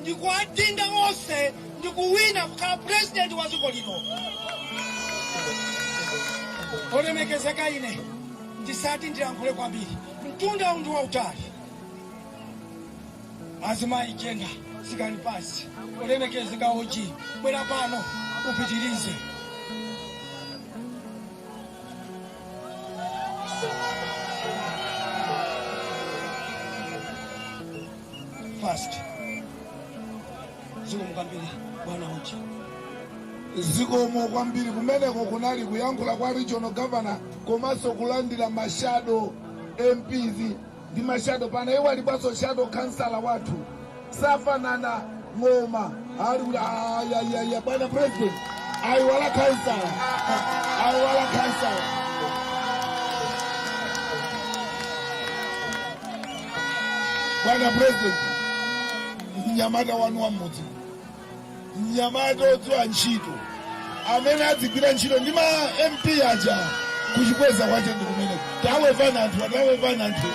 ndikuwadinda onse ndikuwina kukhala purezidenti wa dziko lino olemekezeka ine ndisati ndilankhule kwambiri mtundawu ndi wautali azimayi jenda sikani pasi olemekezeka oji bwera pano upitirize fast zikomo kwambiri bwana oji zikomo kwambiri kumeneko kunali kuyankhula kwa regional governor komanso kulandira mashado mps ndi mashado panayiwalidwanso shado khansala wathu safanana ng'oma ali kuti ayayaya bwana president ayiwala khansala ayiwala khansala bwana president mnyamata wanu wa mmudzi mnyamata odziwa ntchito amene adzigwira ntchito ndi ma mp aja kuchikweza kwache ndi kumene tawevani anthu tawevani anthu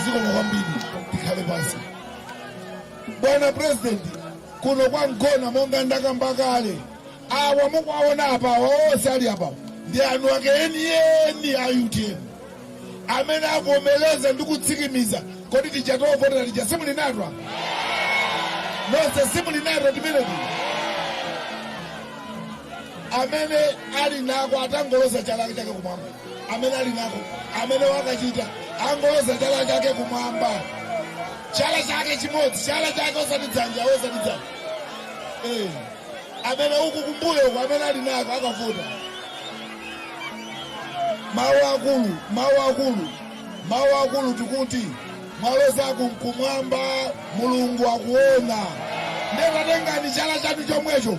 zikomo kwambiri tikhale pansi bwana purezidenti kuno kwa mgona monga ndakamba kale awa mukuwaona apawa onse ali apawa ndi eni ake enieni a utm amene avomereza ndi kutsikimiza kodi tija tovotera tija simuli nato nonse simuli nato timeneti amene ali nako atangoloza chala chake kumwamba amene ali nako amene wakachita angoloza chala chake kumwamba chala chake chimodzi chala chake osati dzanja osati dzanja Eh, amene uku kumbuyo uku amene ali nako akavota mawu akulu mawu akulu mawu akulu tikuti mwaloza kumwamba mulungu akuona nde tatengani chala chanu chomwecho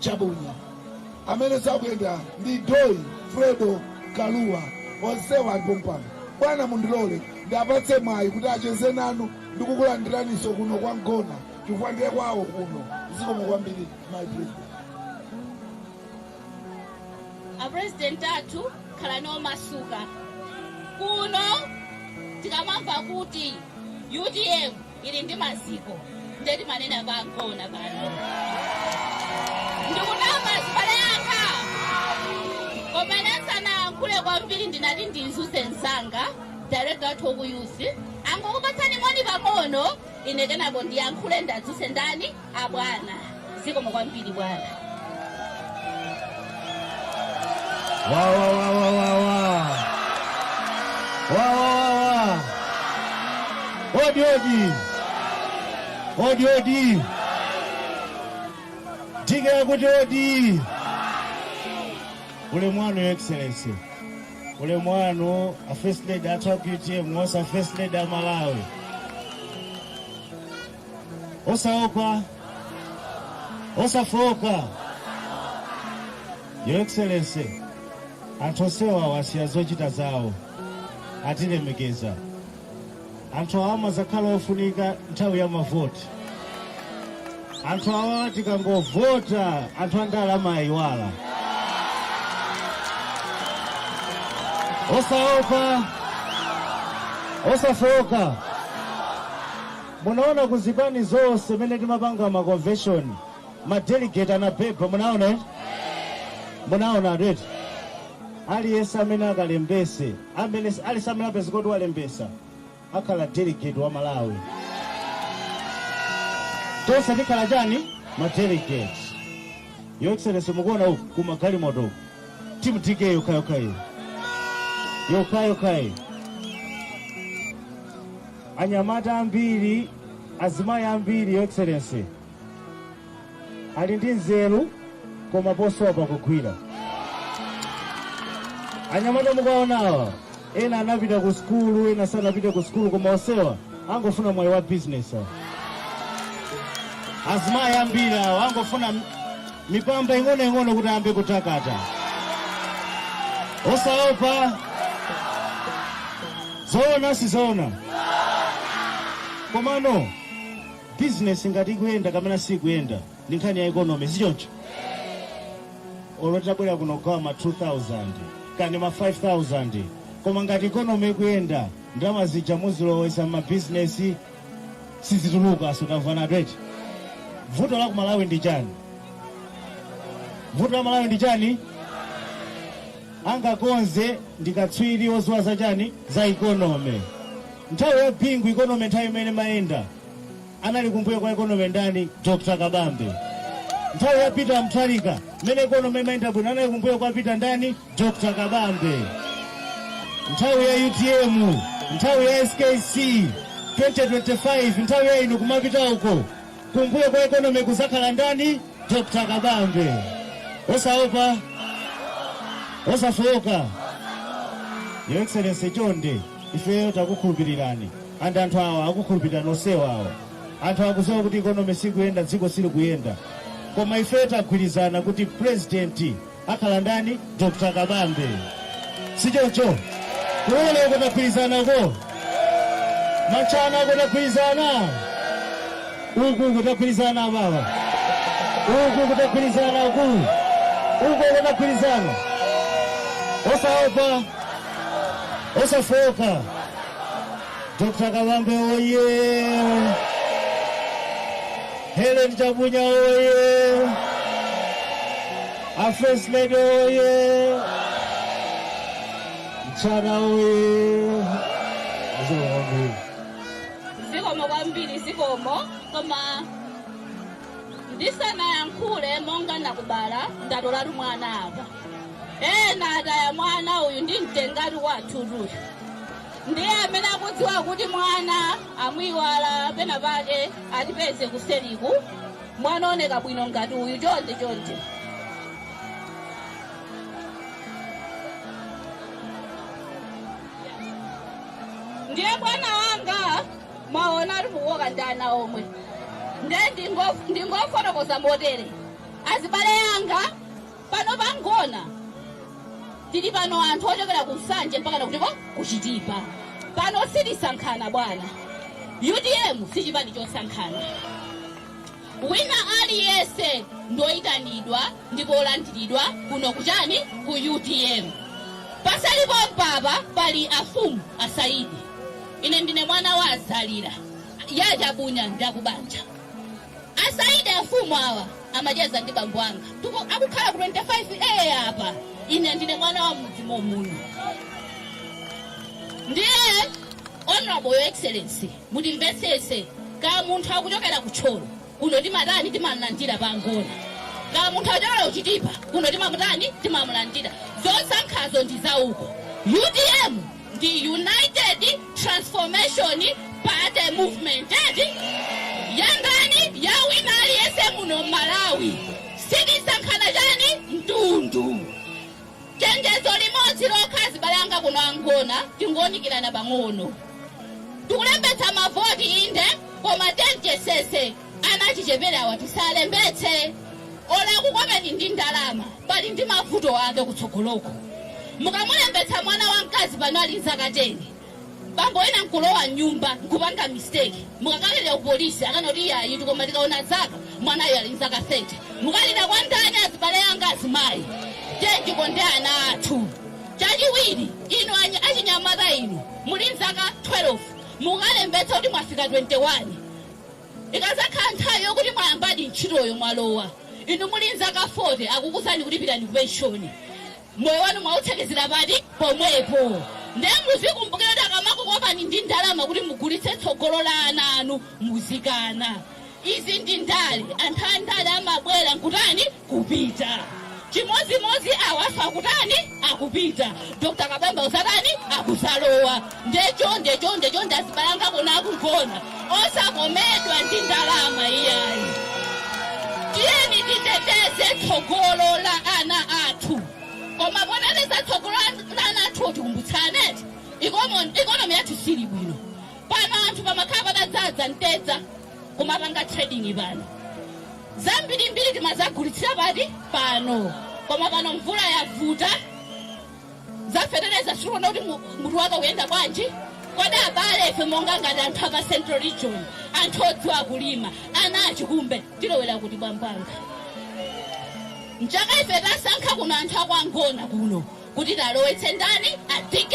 Chabunya amene sakuyenda ndi Doyi Fredo Kalua onsewa ali pompano bwana mundilole ndiwapatse mwayi kuti acheze nanu ndikukulandiraniso kuno kwa mgona chifukwa ndiye kwawo kuno zikomo kwambiri my president apurezidenti athu khalani omasuka kuno tikamamva kuti utm ili ndi maziko ndiye timanena kwa mgona pano ndikunama azibale anga koma ndisanayankhule kwambiri ndinati ndidzutse msanga director wathu oku youth angokupatsani moni pang'ono ine kenako ndiyankhule ndidzutse ndani abwana zikomo kwambiri bwana wawawawawawa wawawawa odi odi odi odi tikati kuti odi ulemu wanu your excellency ulemu wanu a first lady athu a utm wonse a first lady a malawi osaopa osafooka your excellency anthu onsewa asiya zochita zawo atilemekeza anthu awa amazakhala ofunika nthawi ya mavoti anthu awa tikangovota anthu andale amawayiwala osaopa osafooka Munaona ku zipani zonse mene timapanga ma convention ma delegate anabeba, munaona eti? Munaona tu eti? Aliyense amene akalembese amene si- aliyense amene apeza kuti walembesa akhala delegate wa Malawi. Tonse tikhala chani? Ma delegate. Your Excellency mukuona uku kumagalimoto uku. Team DK yokhayokhayo. Yokhayokhayo. anyamata ambiri azimayi ambiri your excellency ali ndi nzeru koma akusowa pogwira anyamata mukuwaonawa ena anapita ku sukulu ena sanapita ku sukulu koma onsewa akungofuna mwayi wa business awa. azimayi ambiri awa akungofuna mipamba ing'onoing'ono kuti ayambe kutakata osaopa zoona sizoona komano bizinesi ngati ikuyenda kapena sikuyenda ndi nkhani ya ikonomi sichoncho olo titabwera kuno kugawa ma 2000 kaya ma 5000 koma ngati ikonomi ikuyenda ndalama zija muzilowesa m'mabizinesi sizituluka so tamvanatu eti vuto la kumalawi ndi chani vuto la malawi ndi chani angakonze ndi akatswiri odziwa za chani za ikonomi nthawi ya bingu ikonomi nthawi imene imayenda anali kumbuyo kwa ikonomi ndani dr kabambe nthawi ya peter mutharika mmene ikonomi imayenda bwino anali kumbuyo kwa peter ndani Dr. Kabambe nthawi ya UTM nthawi ya SKC 2025 nthawi ya inu kumapita uko kumbuyo kwa economy kuzakhala ndani Dr. Kabambe osaopa osafooka Your Excellency chonde ifeyo takukhulupirirani and anthu awa akukhulupirirani onsewa awa anthu akuziwa kuti economy sikuyenda dziko silikuyenda koma ifeyo tagwirizana kuti president akhala ndani dr kabambe sichocho kuona uko tagwirizana uko matchana uko tagwirizana uku uko tagwirizana abawa uku uko tagwirizana uku uko uko tagwirizana osaopa osafoka Dr. Kabambe oye! Helen Chabunya oye! A First Lady oye! Mchana oye! Mzee wangu. zikomo kwambiri zikomo koma ndisanayankhule monga nakubala ndatolatu mwana apa ena ataya mwana uyu ndimtengatu kwathutu uyu ndiye amene akudziwa kuti mwana amuiwala pena pake atipeze kuseliku mwana ooneka bwino ngati uyu chonde chonde ndiye bwana wanga mwaona ati mukukoka ndi ana omwe ndiye ndingofotokoza motere azibale anga pano pa mgona tili pano anthu ochokera ku nsanje mpaka nakutiko kuchitipa pano sitisankhana bwana utm si chipani chosankhana wina aliyense ndoyitanidwa ndipo olandiridwa kuno kuchani ku utm pasali pompapa pali afumu asaidi ine ndine mwana wa a zalira ya chabunya ndakubanja A Saidi afumu awa amacheza ndi bambo anga ndipo akukhala ku 25A apa. Ine ndine mwana wa m'mudzi mommuno. Ndiye Honorable Your Excellency, mutimvetsetse ka munthu akuchokera ku Thyolo kuno timatani timamulandira pa Mgona. Ka munthu akuchokera ku Chitipa kuno timamutani timamulandira. Zosankhazo ndi zauko. UTM ndi United Transformation Party Movement eti ya ndani ya wina aliyense muno Malawi sitisankhana chani mtundu chenjezo limodzi lokha azibale anga kuno a Mgona tingounikirana pang'ono tikulembetsa mavoti inde koma tionetsetse Ana achicheperewa tisalembetse olo akukopeni ndi ndalama pali ndi mavuto ake kutsogoloko. Mukamulembetsa mwana wa mkazi pano ali nzaka 10 bambo wina nkulowa mnyumba nkupanga mistake mukakalira ku police akanena kuti iyayitu koma tikaona zaka mwanayu ali nzaka 30 mukalira kwa ndani azibale anga azimayi tiyeni tikonde ana athu. Chachiwiri inu anyi- achinyamata inu muli nzaka 12 mukalembetsa kuti mwafika 21 ikazakhala nthawi yokuti mwayambadi ntchitoyo mwalowa inu muli nzaka 40 akukuuzani kuti pitani ku penshoni moyo wanu mwautsekezera pati pomwepo ndiye muzikumbukira kuti akamakukopani ndi ndalama kuti mugulitse tsogolo la ana anu muzikana izi ndi ndale anthu a ndale amabwera nkutani kupita chimodzimodzi awawa akutani akupita dr kabambe azatani akuzalowa ndecho ndecho ndecho ndiye azibale anga kuno kwa Ngona osakomedwa ndi ndalama iyayi tiyeni titeteze tsogolo la ana athu koma poteteza tsogolo la ana athu tikumbutsane ikonomi yathu siili bwino pano anthu pamakhala pamadzadza mtedza kumapanga trading pano zambirimbiri timadzagulitsira pati pano koma pano mvula yavuta za fetereza sitikuona kuti mu- mutu wake uyenda bwanji kodi abale ife monga ngati anthu a pa central region anthu odziwa kulima ana achikumbe tilowera kuti bambo wanga mchaka ife tasankha kuno anthu a kwa Ngona kuno kuti atilowetse ndani a DK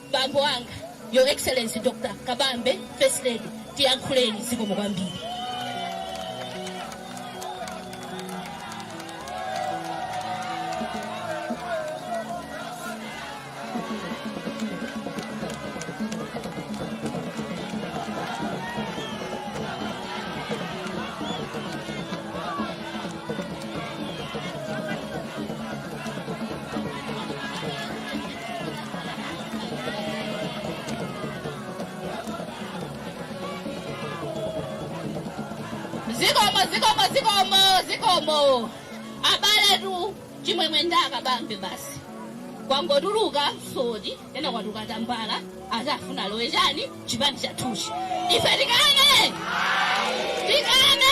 Bambo wanga, Your Excellency Dr. Kabambe, First Lady, tiyankhuleni zikomo kwambiri. zikomo zikomo zikomo zikomo abale tu chimwemwe ndi a Kabambe basi kwangotuluka msodi ena kwatuluka tambala ati afuna alowe chani chipani chathuchi ife tikane tikane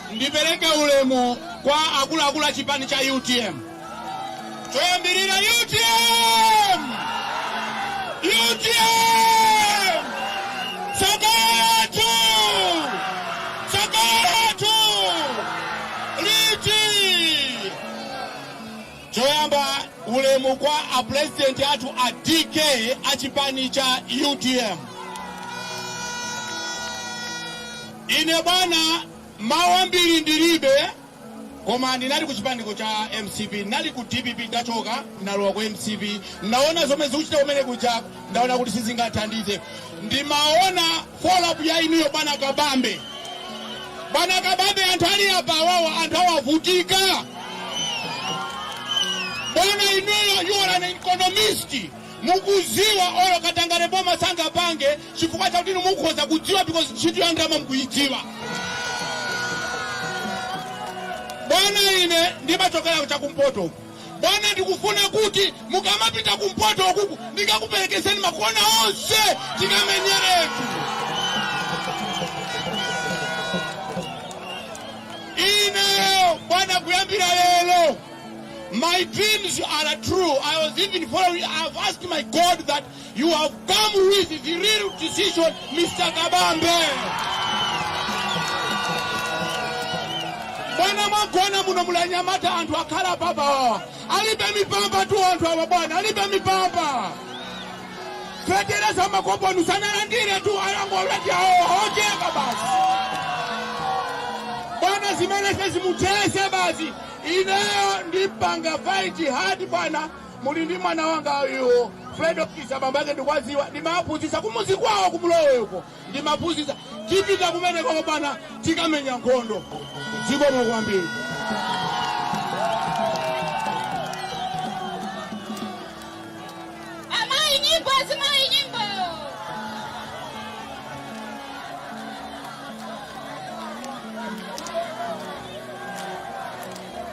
Ndipereke ulemu kwa akuluakulu a chipani cha utm. Choyambirira utm! Utm! Tsogolo lathu! Tsogolo lathu! Liti! Choyamba ulemu kwa a president athu a DK a chipani cha utm. Ine bwana mawu ambiri ndilibe koma ndinali ku chipaniko cha mcp ndinali ku dpp ndachoka ndalowa ku mcp ndaona zomwe zikuchitika kumene kuja ndaona kuti sizingathandize ndimaona follow up ya inuyo bwana kabambe bwana kabambe anthu ali apa awawa anthu awavutika bwana inuyo you are an economist mukudziwa olo katangale boma sangapange chifukwa chakuti inu mukhoza kudziwa because ntchito ya ndalama mukuyidziwa bwana ine ndimachokera chakumpoto uku bwana ndikufuna kuti mukamapita kumpoto ukuku ndingakuperekezeni makona onse tikamenyeretu ineyo bwana kuyambira lero my dreams are true i was even following i've asked my god that You have come with the real decision, Mr. Kabambe. Bwana mwaona muno muli anyamata anthu akhala apawa alibe mipamba tu anthu awa bwana alibe mipamba fetereza makoponi sanalandire tu ayangolati awo ojeka basi bwana zimene sezimuthese basi ineyo ndipanga fight hard bwana Muli ndi mwana wangayu Fred Okisa bambo ake ndikuwadziwa ndimaphunzitsa kumuzi kwawo ku Mlowe uko ndimaphunzitsa tipita kumene koko bwana tikamenya nkhondo zikomo kwambiri Azimayi nyimbo azimayi nyimbo.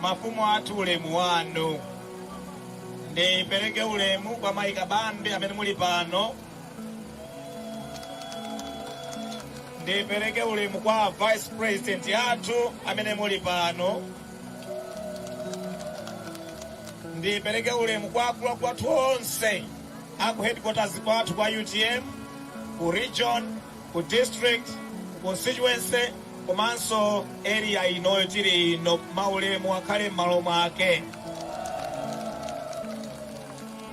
Mafumu athu ulemu wanu. Ndipereke ulemu kwa Mayi Kabambe amene muli pano. Ndipereke ulemu kwa Vice President athu amene muli pano. Ndipereke ulemu kwa akuluakulu athu onse aku headquarters kwathu kwa UTM ku region ku district, ku constituency komanso area inoyo tili ino maulemu akhale m'malo mwake.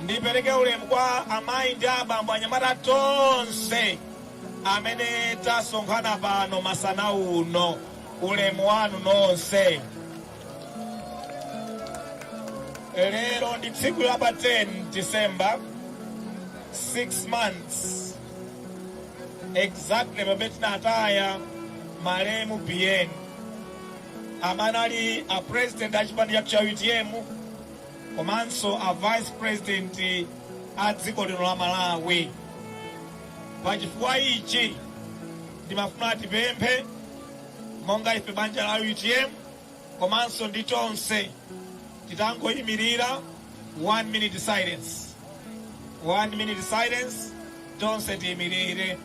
Ndipereke ulemu kwa amayi ndi abambo anyamata tonse amene tasonkhana pano masana uno, ulemu wanu nonse. Lero ndi tsiku la pa 10 December 6 months exactly pamene tinataya malemu biyeni amene anali a president a chipani chathu cha utm komanso a vice president a dziko lino la malawi pa chifukwa ichi ndimafuna tipemphe monga ife banja la utm komanso ndi tonse titangoimirira one minute silence one minute silence tonse tiimirire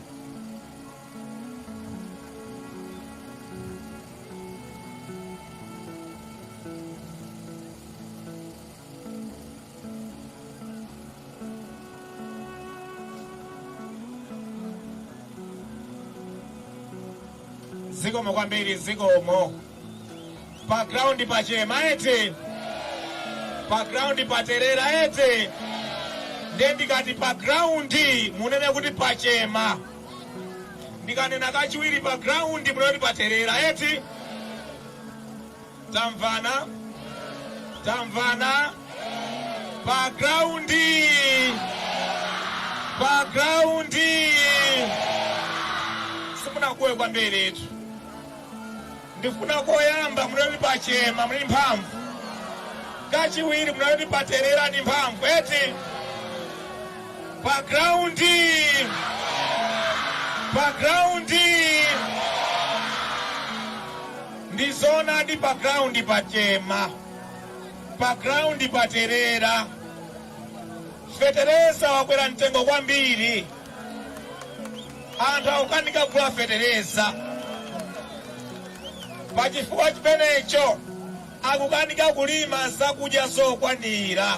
zikomo kwambiri zikomo pa ground pachema eti pa ground paterera eti nde ndikati pa ground munene kuti pachema ndikanena kachiwiri pa ground munene kuti paterera eti tamvana tamvana pa ground pa ground simunakuwe kwambiri etu ndifuna koyamba munene kuti pachema muli mphamvu kachiwiri munene kuti paterera ndi mphamvu eti pa ground pa ground ndi zoonadi pa ground pachema pa ground paterera feteleza wakwera mtengo kwambiri anthu akukanika kugula feteleza pa chifukwa chimenecho akukanika kulima zakudya zokwanira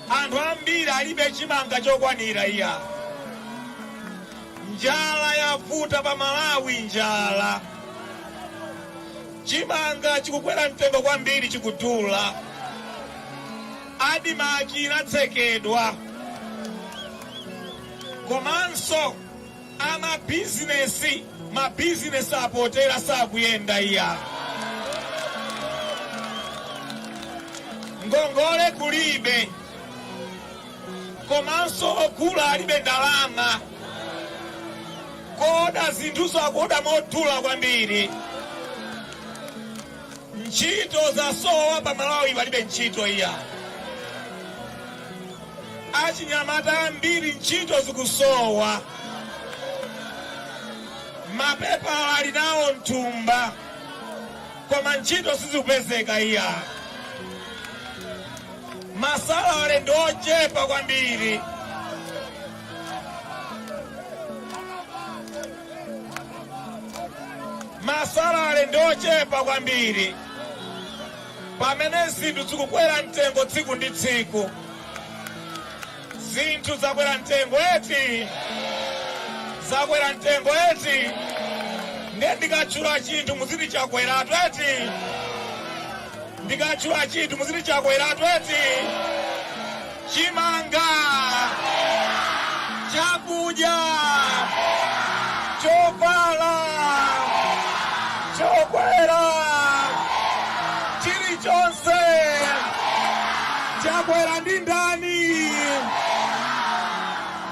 anthu ambiri alibe chimanga chokwanira iya njala yavuta pa malawi njala chimanga chikukwera mtengo kwambiri chikudula Admarc inatsekedwa komanso amabizinesi, mabizinesi apotera sakuyenda iya. Ngongole kulibe komanso ogula alibe ndalama. Kuoda zinthunso akuoda modula kwambiri. Ntchito zasowa pa Malawi palibe ntchito iya. Achinyamata ambiri ntchito zikusowa. Mapepala ali nawo mthumba koma ntchito sizikupezeka iya. Masalale ndi ochepa kwambiri. masalale ndi ochepa kwambiri pamene zinthu zikukwera mtengo tsiku ndi tsiku zinthu zakwera mtengo eti zakwera mtengo eti ndiye ndikatchula chinthu muziti chakweratu eti ndikatchula chinthu muziti chakweratu eti chimanga chakudya chovala chokwera chilichonse chakwera ndi ndani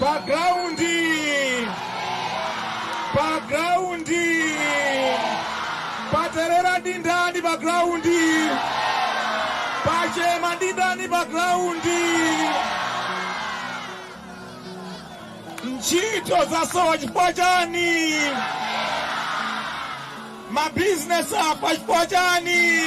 pa graundi pa graundi paterera ndi ndani pa graundi pachema ndi ndani pa graundi ntchito zasowa chifukwa chani mabizinesi afa chifukwa chani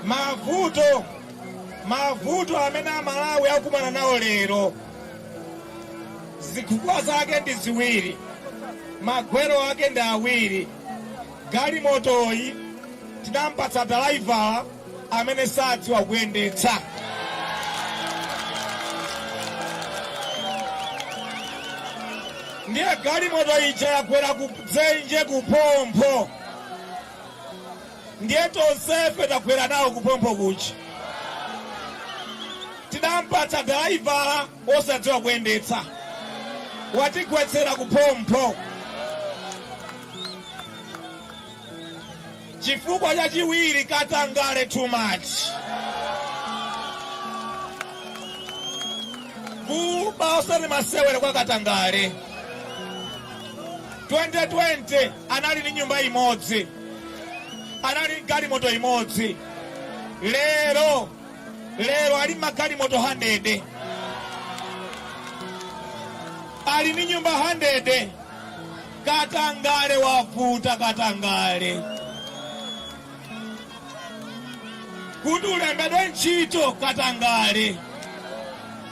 mavuto mavuto amene amalawi akumana nawo lero zifukwa zake ndi ziwiri magwero ake ndi awiri galimotoyi tinampatsa dalaivala amene sadziwa kuyendetsa ndiye galimoto ija yagwera ku dzenje ku phompho ndiye tonsefe tagwera nawo kuphompho kuja. Tidamupatsa dalaivala wosadziwa kuyendetsa, watigwetsera kuphompho. Chifukwa chachiwiri, katangale too much. Kuba osati masewera kwa katangale. 2020 anali ndi nyumba imodzi. anali galimoto imodzi lero lero ali magalimoto 100 ali ni nyumba 100 katangale wavuta katangale kuti ulembedwe ntchito katangale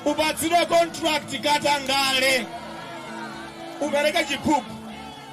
upatsidwe contract katangale upereke chiphuphu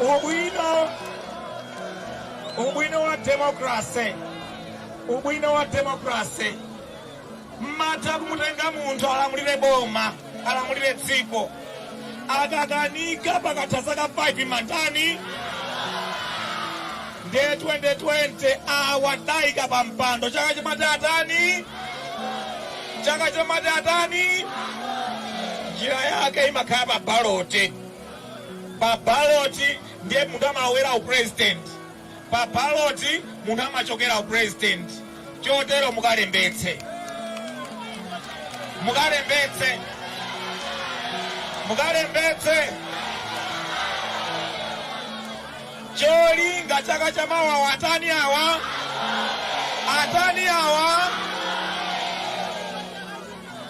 ubwino ubwino wa demokrase ubwino wa demokrase mmatha kumutenga munthu alamulire boma alamulire dziko akakanika pakatha zaka 5 mmatani nde 2020 awa tidaika pa mpando chaka cha mawa atani chaka cha mawa atani njira yake imakhala pa baloti Pa ballot ndiye munthu amalowera u president. Pa ballot munthu amachokera u president. Chotero mukalembetse. Mukalembetse. Mukalembetse. Cholinga chaka cha mawa atani awa? Atani awa?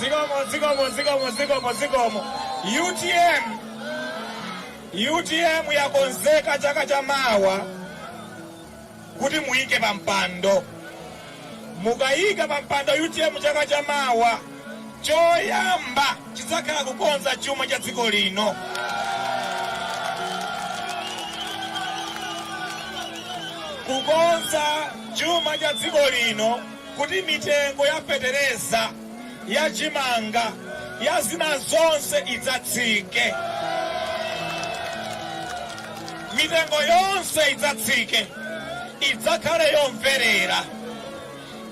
Zikomo, zikomo, zikomo, zikomo, zikomo. UTM, UTM yakonzeka chaka cha mawa kuti muyike pa mpando. Mukayika pa mpando UTM chaka cha mawa Choyamba chidzakhala kukonza chuma cha dziko lino. Kukonza chuma cha dziko lino kuti mitengo ya fetereza, ya chimanga, ya zina zonse idzatsike. Mitengo yonse idzatsike, idzakhale yomverera.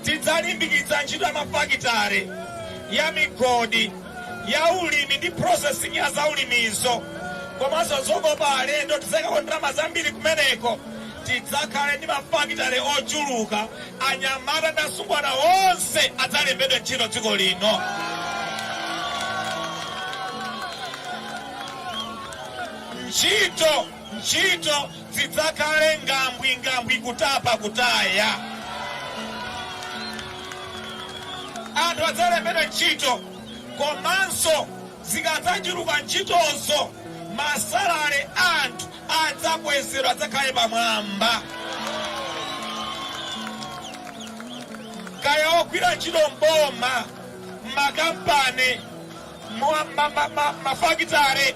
Tidzalimbikitsa ntchito ya mafakitale, ya migodi, ya ulimi ndi processing ya zaulimizo komanso zokopa alendo. Tidzaikako ndalama zambiri kumeneko. Tidzakhale ndi mafakitale ochuluka, anyamata ndi asungwana onse adzalembedwe ntchito dziko lino. Ntchito, ntchito, Zidzakhale ngambwi ngambwi kutapa kutaya. Anthu adzalembedwa ntchito komanso zikadzachuluka ntchitozo masalale a anthu adzakwezedwa adzakhale pamwamba. Kaya ogwira ntchito m'boma, m'makampani, m'mafakitale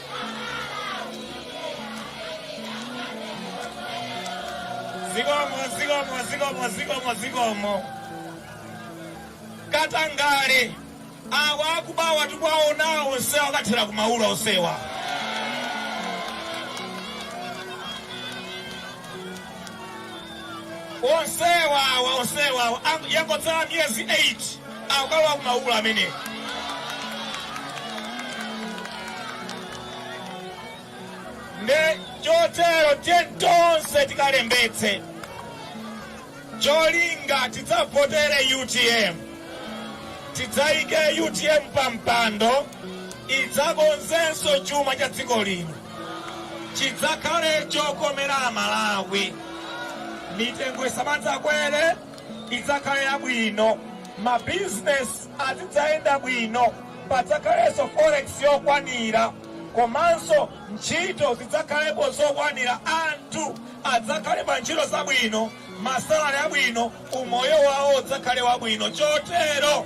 zikomo zikomo zikomo zikomo zikomo katangale awa akubawa tikuwaonawo onsewa akathera ku maula onsewa onsewa onsewa yangotsala miyezi 8 akukalowa kumaula amene nde chotero tiye tonse tikalembetse cholinga tidzavotere utm tidzayike utm pampando idzakonzenso chuma cha dziko lino chidzakhale chokomera amalawi mitengo isamadzakwere idzakhale yabwino mabizinesi azidzayenda bwino padzakhalenso forex yokwanira komanso ntchito zidzakhalepo zokwanira anthu adzakhale pa ntchito zabwino masalale abwino umoyo wawo udzakhale wabwino chotero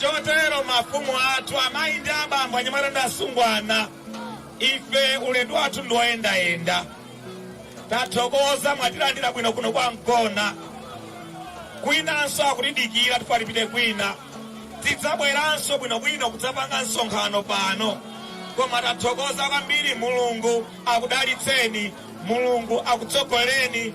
Chotero mafumu athu, amayi ndi abambo, anyamata ndi asungwana, ife ulendo wathu ndi woyendayenda, tathokoza mwatilandira bwino kuno kwa Mgona. Kwinanso akutidikira tifuna tipite kwina, tidzabweranso bwinobwino kudzapanga msonkhano pano, koma tathokoza kwambiri. Mulungu akudalitseni, Mulungu akutsogolereni.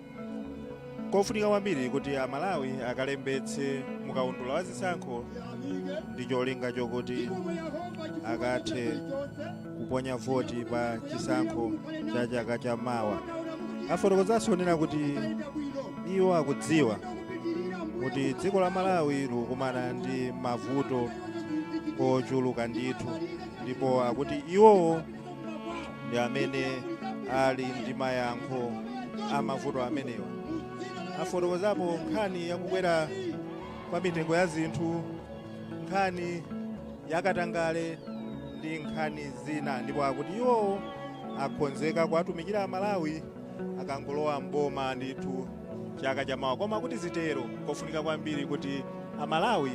kofunika kwambiri kuti amalawi akalembetse mukaundula wa zisankho ndi cholinga chokuti akathe kuponya voti pa chisankho cha chaka cha mawa afotokozanso kunena kuti iwo akudziwa kuti dziko la malawi likukumana ndi mavuto ochuluka ndithu ndipo akuti iwowo ndi amene ali ndi mayankho a mavuto amenewa afotokozapo nkhani yakukwera kwa mitengo ya zinthu nkhani yakatangale ndi nkhani zina ndipo akuti iwowo akonzeka kuwatumikira amalawi akangolowa mboma ndithu chaka chamawa koma kuti zitero kofunika kwambiri kuti amalawi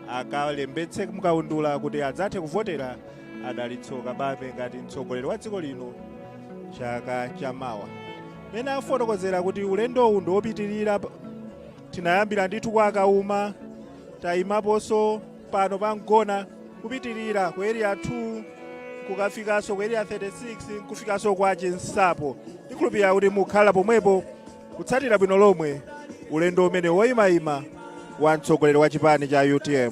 akalembetse mkaundula kuti adzathe kuvotera adalitso kabambe ngati mtsogoleri wa dziko lino chaka cha mawa mene afotokozera kuti ulendowu ndi wopitirira tinayambira ndithu kwa kauma tayimaponso pano pa mgona kupitirira ku area 2 kukafikanso ku area 36 kufikanso kwa chinsapo ndikhulupirira kuti mukhala pomwepo kutsatira bwino lomwe ulendo umene woyimayima wa mtsogoleri wa chipani cha utm